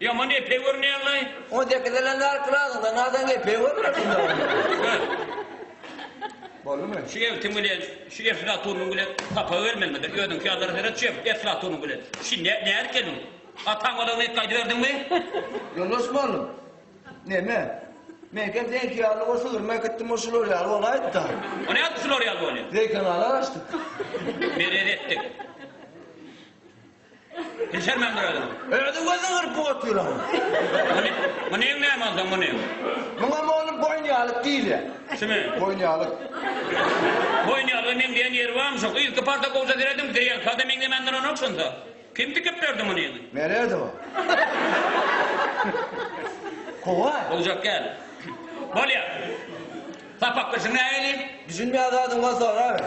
Ýaman epe görünýäňlaý. On sekiz ýyldan bäri Pyragyňdan nazaň epe görmedim-dä onda. Boldumy? Şu ebtiň bilen, şu eflatunyň bilen hapa gelmeli mende. Özüňki ýalylara seret şu eflatunyň bilen. Şi nä, nädip geldiň? Ataň balagyny etdi aýdyberdiňmi? Ýoldaşym oglum, neme? Meňkem seňki ýaly o sygrymy äkitdim, o şular ýaly bolaýypd-a. O nädip şular ýaly bolýa? Zeýkenala gaçdyk. Merez etdik. Bilşermen bir özüm. Özi gözüni gyryp otyram. Munyň näme onda munyň? Muňam onuň boýun ýalyk diýilýär. Kimi? Boýun ýalyk. Boýun ýalyga meňzeýän ýeri barmy şoň? Yzky parta gowja seredin, zeýen sada meňzemän duranok şonda. Kim tikip berdi muny? Bererdi o. Kowaý. Boljak däl. Bolýar. Sapak birsin nägelin. Düşünmeýän zadyň bolsa soraber.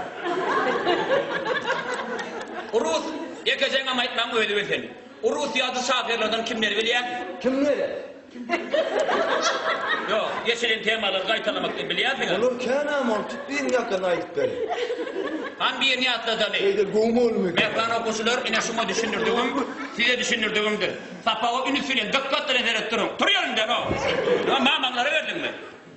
Rus Ýekejeňňam aýtmaň özi bilsin. Rus ýazyjy şahyrlardan kimleri bilýäň? Kimleri? Ýok, geçilen temalary gaýtalamakdan bilýänsiňiz. Olar känäm ol tut birini ýakany aýdyp beriň. Han birini ýatladany. Şeýde gowy bolmyka. Mähriban okuwçylar ine şuňa düşündirdigim size düşündirdigimdir. Sapaga ünüs bilen dykkat bilen seredip duruň. Tur ýerinden ho. Mamaňlara berdiňmi?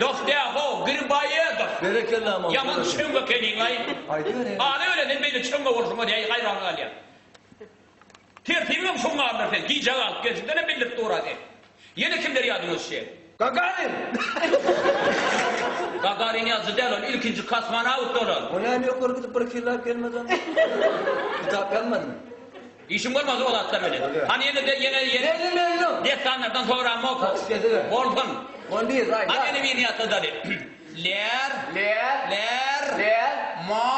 Dost ya ho Grbayedow ýaman çöň ekeniňaý Ada ölenden beýle çöň bolşuňa däýi haýran galýan Tertibiňem şuň bardyr sen gijä galyp gelşiňdenem bildirip dura sen Ýene kimler ýadyňa düşýä. Gagarin! Gagarin ýazyjy däl ol ilkinji kosmonawt ol ol. O näme ýokary gidip bir killap gelmedi onda? Kitap ýazmadymy? Işiň bolmasa o zatlar bilen. Hany ýene de ýene ýene dessanlardan soraň oku. Bolsun. Hany ýene birini ýatla dali. Ler ler ma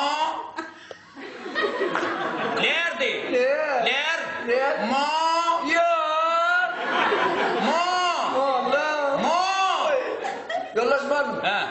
Ler deý. Ler ma ýa ma ma Ýoldaş barmy?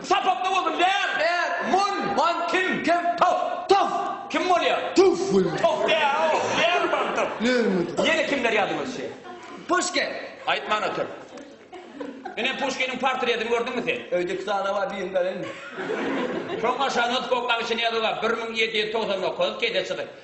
Sapakda bolsun, Bär! Bär! Mun! Wan! Kim? Kim? Tof! Tof! Kim bolýar? Tof bolýar. Tof däl-ow! Bär bolsun, Tof! Näme? Ýene kimler ýadyňa düşýär? Puşkin! Aýtman otur. Ine, Puşkiniň portretini gördüňmi sen? Öýde iki sany bar, birini bereýinmi? Şoň aşagyna Skokanyň Çinýazowa bir müň ýedi ýüz togsan dokuz, kese çyzyk.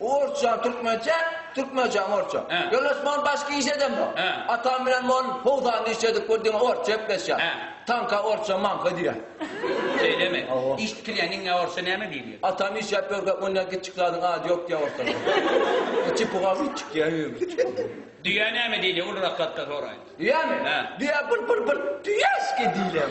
Orsça türkmençe, türkmençäň orsça. Ýönes men başga iş edemok. Atam bilen men howzanda iş edip bir diňe orsça gepleşýäs. Tanka orsça manka diýýär. Şeýlemi? Iş tikilýän iňňä orsça näme diýilýär? Atam işläp ýörkä mundan kiçjik zadyň ady ýok diýýär orsça. Içi pugawyçjik diýýär. Düýä näme diýilýär ulurak zatda soraýyn? Düýämi? Düýä bir bir bir düýäçki diýilýär.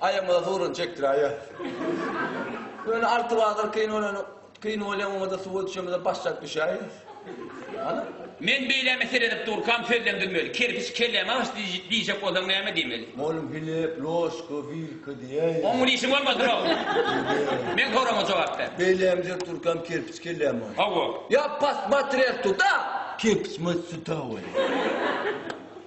Aýagymyza sugrun çekdiräýýär. Ýöne alty bazar kyn bolany kyn bolýa oňada suwa düşemizem başlap düşäýýäs. Hany? Men beýläme seredip durkam sözlendirmeli. Kerpiç kelläme aç diýjek bolsaň näme diýmeli? Molum Filip, ložka, wilka diýäýýä. Oň diýşi bolmasynok. Meň soragma jogap ber. Beýläme serip durkam kerpiç kelläme aç. Hawa. Ýa posmatrel tuda. Kerpiç maç suta bolýa.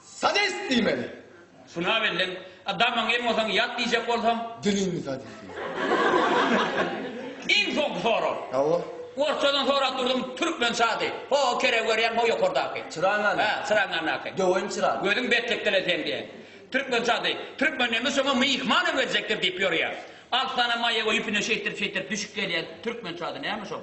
Sadist diýmeli. Şuna bellik. A damyň em bolsaň ýat diýjek bolsaň. Diliňi sadist diýmeli. Iň soňky sorag. Hawa. Orsçadan sorap durdum, türkmen sady. Ho, keregi görýäň, ho ýokardaky. Çyragyň ýanyndaky. Hä, çyragyň ýanyndaky. Döweýin çyragy. Gözüň betlikdele seň diýen. Türkmen sady. Türkmen neme şoňa myhman öwredjekdir diýip ýörýär. Alty sany maýa goýup ine şeýtdirip-şeýtdirip düşüp gelýär. Türkmen sady näme şol?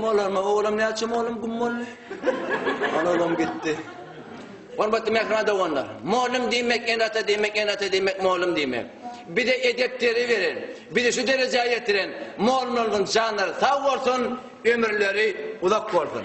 Gummalarma oglum näçe oglum gummaly. Ana oglum gitdi. Hormatly mähriban doganlar! Mugallym diýmek, ene-ata diýmek, ene-ata diýmek, mugallym diýmek. Bize edep deri beren, bizi şu derejä ýetiren mugallymlarymyzyň janlary sag bolsun, ömürleri uzak bolsun!